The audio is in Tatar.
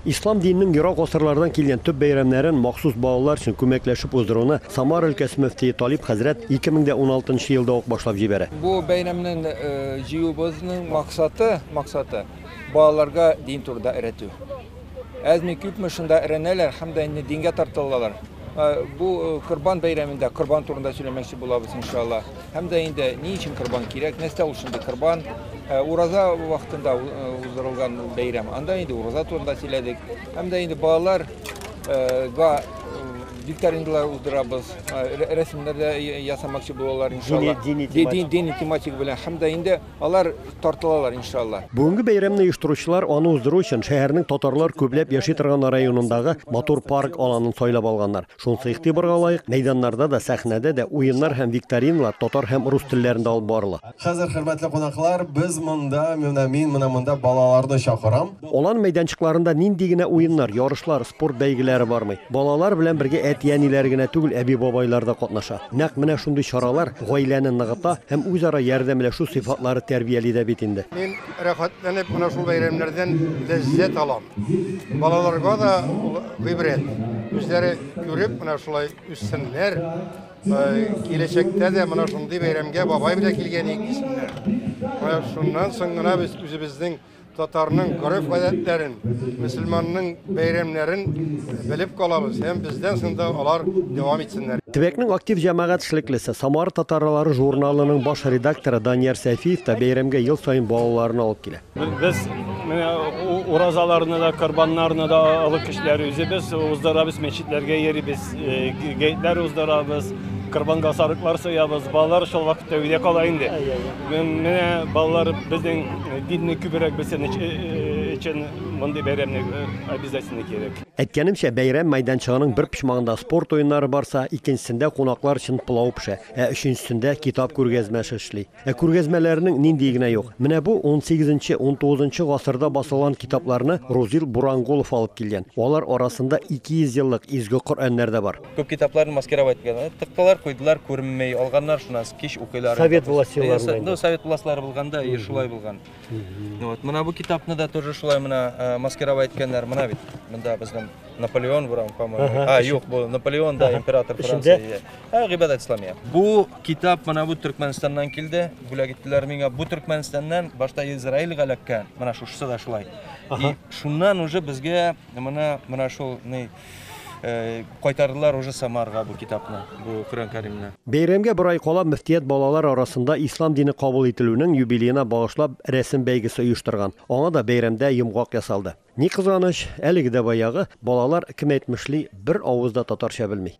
Ислам диненең ерак гасырлардан килгән төп бәйрәмнәрен махсус балалар өчен күмәкләшеп уздыруны Самара өлкәсе мөфтие Талип хәзрәт 2016 нчы елда ук башлап җибәрә. Бу бәйрәмнең җыюыбызның максаты, максаты, балаларга дин турыда өйрәтү. Әзме-күпме шунда өйрәнәләр һәм дә инде дингә тартылалар. Бу Корбан бәйрәмендә Корбан турында сөйләмәкче булабыз, иншалла. Һәм дә инде ни өчен корбан кирәк, нәрсә ул шундый корбан? Э, ураза вакытында э, уздырылган бәйрәм. Анда инде ураза турында сөйләдек. Һәм дә инде балалар э, га викториналар уздырабыз, рәсемнәр дә ясамакчы булалар иншалла. Дини тематика белән һәм дә инде Алар тартылалар иншалла. Бүгенге бәйрәмне оештыручылар аны уздыру өчен шәһәрнең татарлар күпләп яши торган районындагы матур парк аланын сайлап алганнар. Шунысы игътибарга лаек, мәйданнарда да, сәхнәдә дә уеннар һәм викториналар татар һәм рус телләрендә алып барыла. Хәзер, хөрмәтле кунаклар, без монда, менә мин менә монда балаларны чакырам. Алан мәйданчыкларында нинди генә уеннар, ярышлар, спорт бәйгеләре бармый. Балалар белән бергә әти-әниләр генә түгел, әби-бабайлар да катнаша. Нәкъ менә шундый чаралар гаиләне ныгыта һәм үзара ярдәмләшү сыйфатлары тәрбияли дә бит инде. Мин рәхәтләнеп менә шул бәйрәмнәрдән ләззәт алам. Балаларга да ул гыйбрәт. Үзләре күреп менә шулай үссеннәр, киләчәктә дә менә шундый бәйрәмгә бабай белән килгән идек дисеннәр. Менә шуннан соң гына без үзебезнең Татарның гореф-гадәтләрен, мөселманның бәйрәмнәрен белеп калабыз һәм бездән сында алар дәвам итсеннәр. Төбәкнең актив җәмәгать эшлеклесе, Самар татарлары журналының баш редакторы Данияр Сәфиев та бәйрәмгә ел саен балаларын алып килә. Без менә уразаларны да, корбаннарны да олы кешеләр үзебез уздырабыз, мәчетләргә йөрибез, гәетләр уздырабыз, корбанга сарыклар соябыз. Балалар шул вакытта өйдә кала инде. Менә балалар безнең динне күбрәк белсен өчен мондый бәйрәмне обязательно кирәк. Әйткәнемчә, бәйрәм мәйданчыгының бер почмагында спорт уеннары барса, икенчесендә кунаклар өчен пылау пешә, ә өченчесендә китап күргәзмәсе эшли. Ә күргәзмәләрнең ниндие генә юк. Менә бу унсигезенче, унтугызынчы гасырда басылган китапларны Рузил Бурангулов алып килгән. Алар арасында 200 еллык изге Коръәннәр дә бар. Күп китапларны маскировать иткәннәр. Тыктылар, куйдылар, күренмей. Алганнар шуннан кич укыйлар. Совет властеларында. Ну, совет властьлары булганда и шулай булган. Вот, менә бу китапны да тоже шулай менә э, маскировать иткәннәр. Менә бит. Монда безнең Наполеон бурам, по-моему. А, юк, бу Наполеон да император Франция. Ә, гыйбадәт исламия. Бу китап менә бу Төркмәнстаннан килде. Бүләк иттеләр миңа. Бу Төркмәнстаннан башта Израильгә эләккән. Менә шушысы да шулай. И шуннан уже безгә менә менә шул ни Кайтардылар уже Самарага бу китапны, бу Коръән Кәримне. Бәйрәмгә бер ай кала мөфтият балалар арасында ислам дине кабул ителүнең юбилеена багышлап рәсем бәйгесе оештырган. Аңа да бәйрәмдә йомгак ясалды. Ни кызганыч, әлеге дә баягы, балалар, кем әйтмешли, бер авыз да татарча белми.